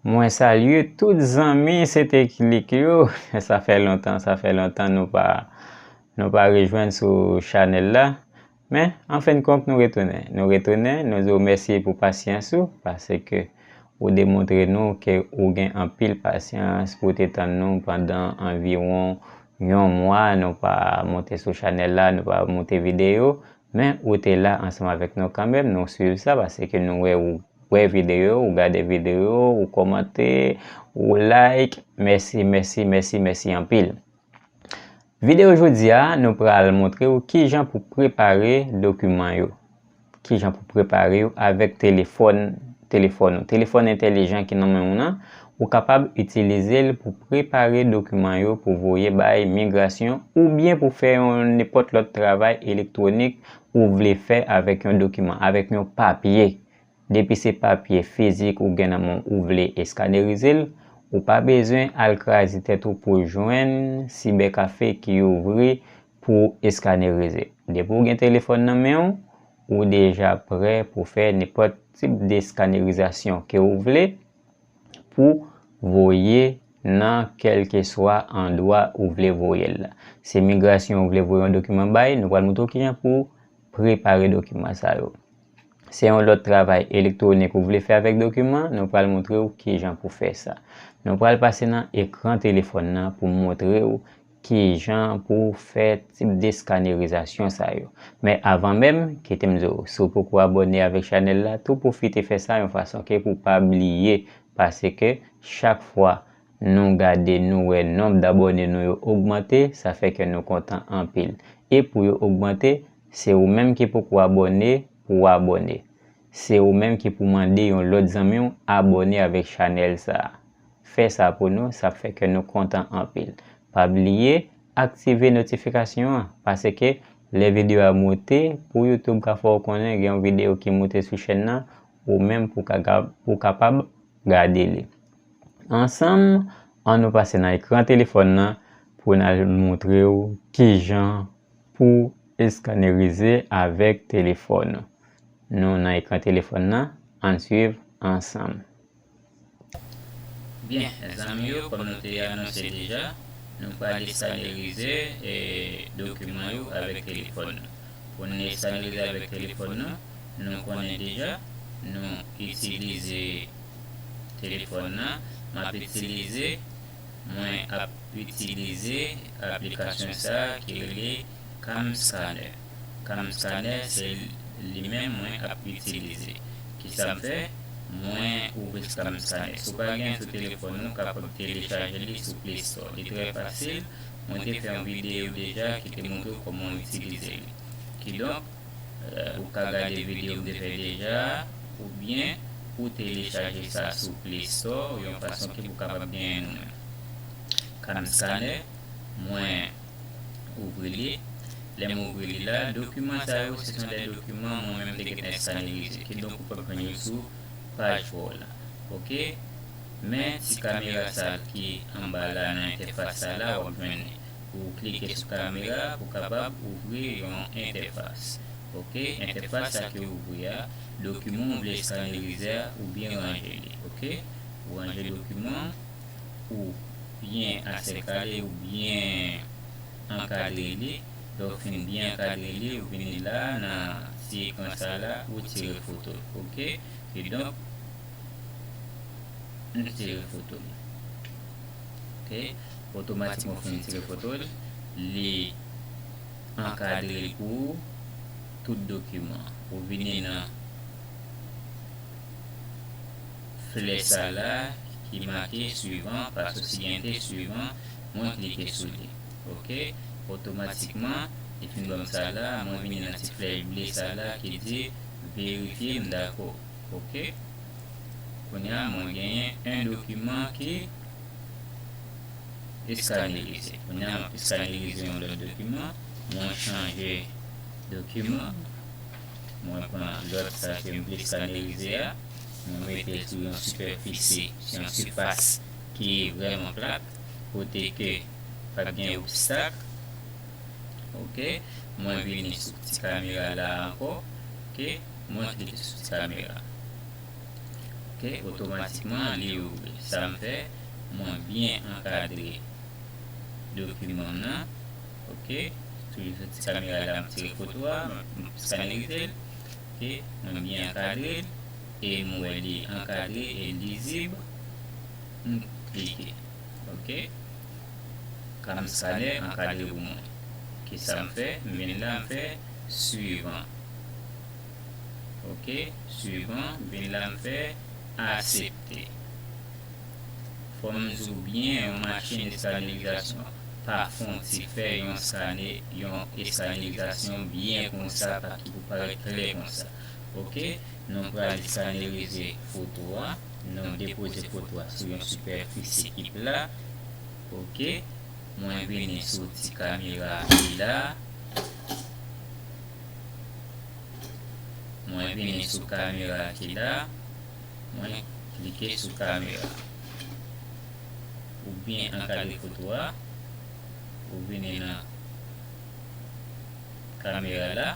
Mwen salye tout zanmi sete klik yo sa fè lontan sa fè lontan nou pa nou pa rejwenn sou chanèl la men anfen kont nou retounen nou retounen nou di w mèsi pou pasyans ou pase ke ou demontre nou ke ou gen anpil pasyans pou te tann nou pandan anviwon yon mwa nou pa monte sou chanèl la nou pa monte videyo Men ou te la ansanm avèk nou kanmenm, nou swiv sa paske nou wè ou wè videyo yo, ou gade videyo yo, ou kòmante, ou like, mèsi, mèsi, mèsi, mèsi anpil. Videyo jodi a, nou pral montre ou kijan pou prepare dokiman yo, kijan pou prepare yo avèk telefòn, telefòn ou, telefòn entèlijan ki nan men ou nan, Ou kapab itilize l pou prepare dokiman yo pou voye bay migrasyon oubyen pou fè yon nenpòt lòt travay elektwonik ou vle fè avèk yon dokiman, avèk yon papye. Depi se papye fizik ou gen nan men w ou vle eskanerize l, ou pa bezwen al kraze tèt ou pou jwenn sibèkafe ki ouvri pou eskanerize. Depi w gen telefòn nan men w, ou deja prè pou fè nenpòt tip deskannerizasyon ke ou vle. pou voye nan kèlkeswa andwa ou vle voye l la. Si migrasyon ou vle voye yon dokiman bay, nou pral montre w kijan pou prepare dokiman sa yo. Se yon lòt travay elektwonik ou vle fè avèk dokiman, nou pral montre w kijan pou fè sa. Nou pral pase nan ekran telefòn nan pou montre w Ki jan pou w fè tip de skanerizasyon sa yo. Men avan menm, kite m di w, si w poko abòne avèk chanèl la, tou pwofite fè sa yon fason ke pou w pa bliye, paske chak fwa nou gade nou wè nonb dabòne nou yo ogmante, sa fè kè nou kontan anpil. E pou yo ogmante, se ou menm ki poko abòne pou w abòne. Se ou menm ki pou mande yon lòt zanmi w abòne avèk chanèl sa. Fè sa pou nou sa ap fè kè nou kontan anpil. Pa bliye aktive notifikasyon an paske lè videyo a moute pou youtube ka fè w konnen gen yon videyo ki moute sou chèn nan ou menm pou ka gab pou kapab gade li. Ansanm an nou pase nan ekran telefòn nan pou n al moutre w kijan Pou eskannerize avèk telefòn nou nan ekran telefòn nan, ann swiv ansanm. Byen zanmi yo, kòm nou te anonse deja, nou pral eskannerize dokiman yo avèk telefòn nou. Pou n eskannerize avèk telefòn nou, nou konnen deja, nou itilize telefòn nan, m ap itilize. mwen ap itilize aplikasyon sa ki rele Camscanner Camscanner se li menm mwen ap itilize kisa m fè mwen ouvri Camscanner si w pa gen l sou telefòn ou kapab telechaje li sou play store li trè fasil mwen te fè yon videyo deja ki te montre w kòman w itilize li kidonk Ou ka gade video m te fè deja oubyen ou telechaje sa sou play store yon fason ke pou kapab genyen nou menm. Cam scanner mwen ouvri li, lè m ouvri li la dokiman sa yo se son de dokiman mwen menm m te gentan eskanerize kidonk ou pap jwenn yo sou paj pa w la ok men ti kamera sa ki anba la nan entèfas sa la wap jwenn li Ou klike sou kamera pou kapab ouvri yon entèfas. Ok, entèfas sa ke ouvri a, dokiman ou vle eskanerize a ou byen ranje li. Ok, ou ranje dokiman ou byen asèkale ou byen ankadre li. Lè ou fin byen ankadre li, ou vini la nan ti ekran sa la, ou tire foto l. Ok, kidonk, m tire foto m. ok otomatikman finn tire fotol li ankadrel pou ou tout dokiman ou vini nan flè sa la ki make swivan paso si gen te swivan mwen klike sou li ok otomatikman li finn banm sa la mwen vini nan ti flèy ble sa la ki di verifye m dako ok. Kounye a mwen genyen 1 dokiman ki eskanerize. Kounye a map eskanerize yon lòt dokiman. Mwen chanje dokiman. Mwen pran lòt sa kem vle eskanerize a. Mwen metel sou yon sipèfisi, sou yon sifas ki vrèman plat. Kote ke pap gen obstak. Ok. Mwen vini sou ti kamera la ankò. Ok. Mwen klike sou ti kamera ok otomatikman li ouvri sa m fè mwen byen ankadre dokiman m nan ok toujou sou ti kamera la m tire foto a m skanerize l ok mwen byen ankadre l e m wè li ankadre e lizib m klike ok cam scanner ankadre pou mwen ok sa m fè m vin la m fè Suivant. Ok, suivant, vin la m fè Aksepte. Fò m di w byen yon machin eskanirizasyon pa fon ti fè yon skane, yon eskanirizasyon byen konsa pa ki pou parèt klè konsa. Ok, nou pral eskanerize foto a, nou depoze foto a sou yon sipèfisi ki pla. Ok. Mwen vini sou ti kamera li la. Mwen vini sou kamera ki la. Mwen klike sou kamera. Ou byen ankadre foto a. Ou vini nan kamera la.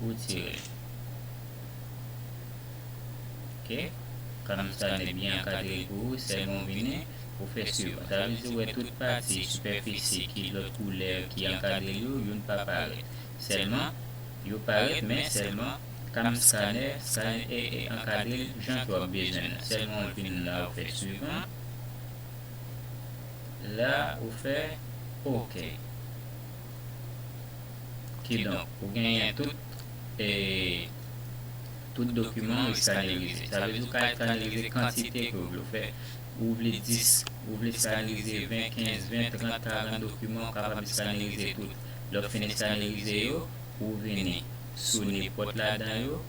Ou tire. Ok. Kamera sa li byen ankadre pou ou. Sèlman ou vini. Pou fè sur, sa vle di wè tout pati, sipèfisi, ki lòt koulè ki ankadre l yo, youn pa parèt. Sèlman, yo parèt men sèlman, kam scanner, scan e e ankadre l jan ke w ap bezwen an. Sèlman w vin la ou fè suivant, la ou fè ok. Kidonk, ou genyen tout e tout dokiman ou eskanerize. Sa vle di ou ka eskanerize kantite ke w vle w fè. Ou vle 10, ou vle skanerize 20, 15, 20, 30, 40 dokiman ou kapab eskanerize tout. Lè w fin eskanerize yo, ou vini sou nenpòt ladan yo,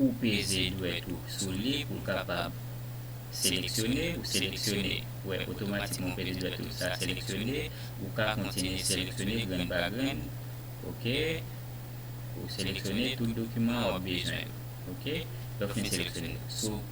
ou peze dwèt ou sou li pou l kapab seleksyone, ou seleksyone, ou wè otomatikman ou peze dwèt ou sa seleksyone, ou ka kontinye seleksyone grenn pa grenn, ok, ou seleksyone tout dokiman wap bezwen yo, ok, lè w fin seleksyone yo, sou.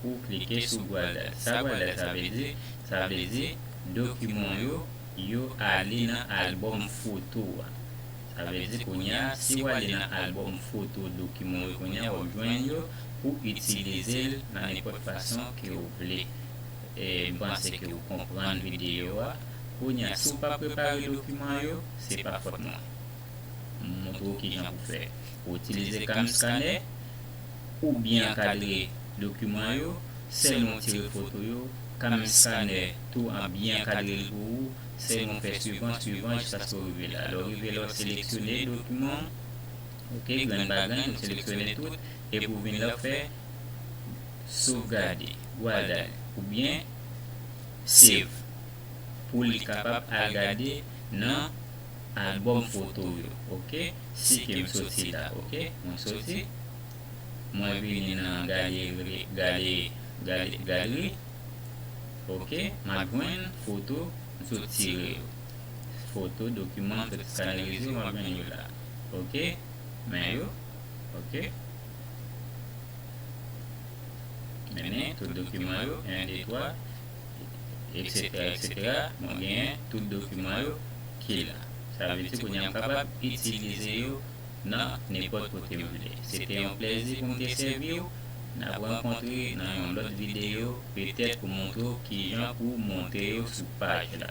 Ou klike sou bwal dat. Sa bwal dat sa vle di? Sa vle di, dokiman w yo, yo ale nan albòm foto a. Sa vle di kounye a, si w ale nan albòm foto dokiman w yo kounye a, w ap jwenn yo pou itilize l nan nenpòt fason ke w vle. E, m panse ke ou konprann videyo a. Kounye a, si w pa prepare dokiman yo, se pa fòt mwen. M montre w kijan pou fè. Ou itilize Camscanner. ou byen ankadre dokiman yo, sèlman w tire foto yo, kanmenm skanè tou an byen ankadre l pou ou, sèlman w fè swivan, swivan jiskaske w rive la. Lè w rive la, w seleksyone dokiman w, ok, grenn pa grenn, ou seleksyone tout, epi w vin la w fè Sovgade, Gwada l, ou byen Save, pou li kapab al gade nan album foto yo ok si kem soti la ok mwen soti mwen vini nan galeri gale gale gallery ok map jwenn foto m sot tire yo foto dokiman m sot skanerize yo map jwenn yo la ok men yo ok mennen tout dokiman yo 1 2 3. etc etc mwen genyen tout dokiman yo ki la sa vle di kounya m kapab itilize yo nan nenpòt kote m vle se te yon plèzi pou m te sèvi w n ap rankontre nan yon lòt videyo petèt pou montre w kijan pou w monte yo sou paj la.